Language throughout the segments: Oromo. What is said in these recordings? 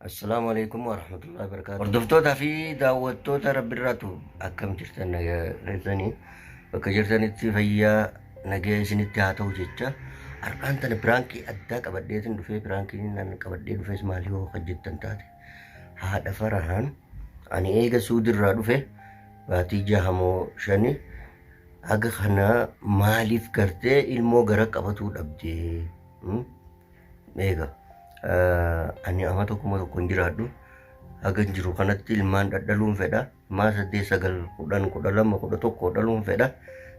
Assalaamu alaikum warahmatullahi wabarakatuh. Hordoftoota fi daawwattoota rabbi irraatu akkam jirtan nagaa keessanii bakka jirtanitti fayyaa nagaa isinitti haa ta'u jecha har'aan tana piraankii addaa qabadheetin dhufee piraankiin nan qabadhee dhufes maal yoo hojjettan taate haadha farahaan ani eega suudirraa dhufe baatii jahamoo shani haga kana maaliif gartee ilmoo gara qabatuu dhabdee hmm? Eega ani ama tokkuma tokko hin jiraadhu haga hin jiru kanatti ilmaan dhadhaluun fedha maa saddeet sagal kudhan kudha lama kudha tokko dhaluun fedha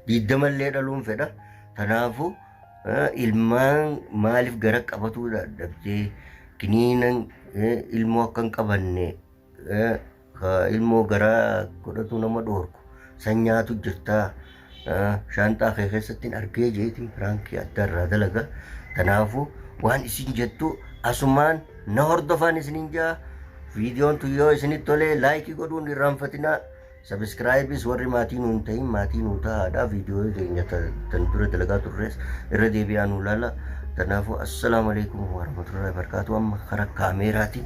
diiddama illee dhaluun fedha tanaafu ilmaan maaliif gara qabatuu dadhabdee kiniinan ilmoo akka hin qabanne ka ilmoo garaa godhatuu nama dhoorku san nyaatu jirtaa shaanxaa kee keessattiin argee jeetiin piraankii adda irraa dalaga tanaafu waan isin jettu asumaan na hordofaan isinin jaa viidiyoon tun yoo isinit tolee laayikii godhuun irraanfatinaa sabiskiraayibis warri maatii nuun ta'in maatii nuu ta'aadha viidiyoo keenya tan dura dalagaa turres irra deebi'aa nuu laala tanaafu assalaamu alaikum warahmatullahi wabarakaatuu amma kara kaameeraatiin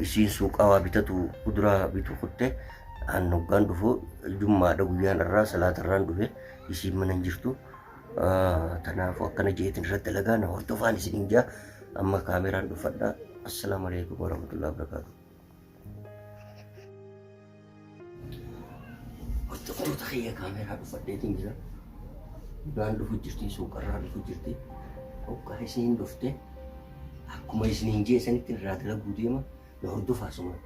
Isiin suuqaa waa bitatu kuduraa bitu kutte an hoggaan dhufu jummaadha guyyaan irraa salaata irraan dhufe isiin mana hin jirtu. Kanaafuu akkana jeetiin irratti dalagaa na hordofaan isin hin jaa amma kaameraan dhuffadha. Assalaamu alaikum warahmatullahi wabarakatuh. Hordoftoota kiyya kaameeraa dhuffadheetiin jira. Udaan dhufu jirti, suuqarraa dhufu jirti. Hoggaa isiin dhufte akkuma isiniin jee sanitti irraa dalaguu deema na hordofaa sumaan.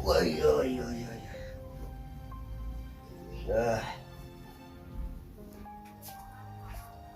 Oi, oi, oi, oi. Ah.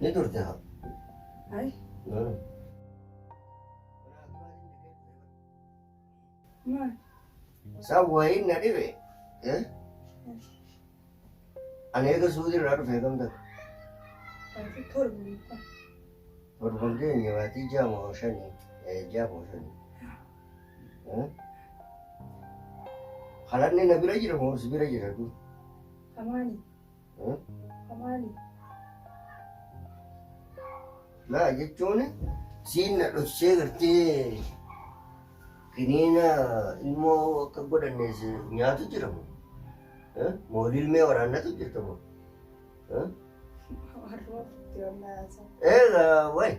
Ni turte haa. Ay. Maal? Isaan wayiin na dhibe. Ani eega suuti irraa dhufe kam ta'e. Baatii torbi. Torban keenya baatii jaamoo shanii. Jaamoo shanii. Halanni na bira jira moo si bira jira kun? Kamaali. Kamaali. Maa jechuun siin na dhoksee gartee kiniina ilmoo akka godhannees nyaatu jira moo? Moolii ilmee waraannatu jirta moo? Warruma turte wallaahi. Eegaa wayi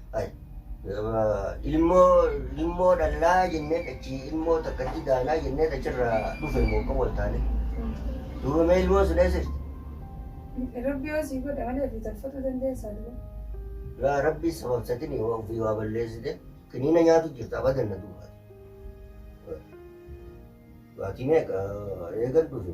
ilmoo ilmoo dhallaa jennee achi ilmoo takka itti daanaa jennee achirraa dhufe immoo kan wal taane. Duuba mee ilmoo sun eessa jirti? Rabbi yoo sii godhe malee fi tolfatu dandeessaa duuba. Laa rabbi sababsatin yoo ofii waa balleessite kiniina nyaatu jirta abadan na duuba. Baatii meeqa eegan dhufe?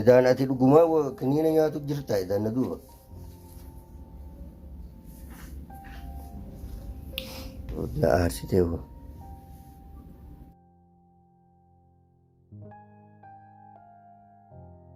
Edaan ati dhugumaa wa- kiniina nyaatu jirta edaan na duuba. Na aarsitee hoo.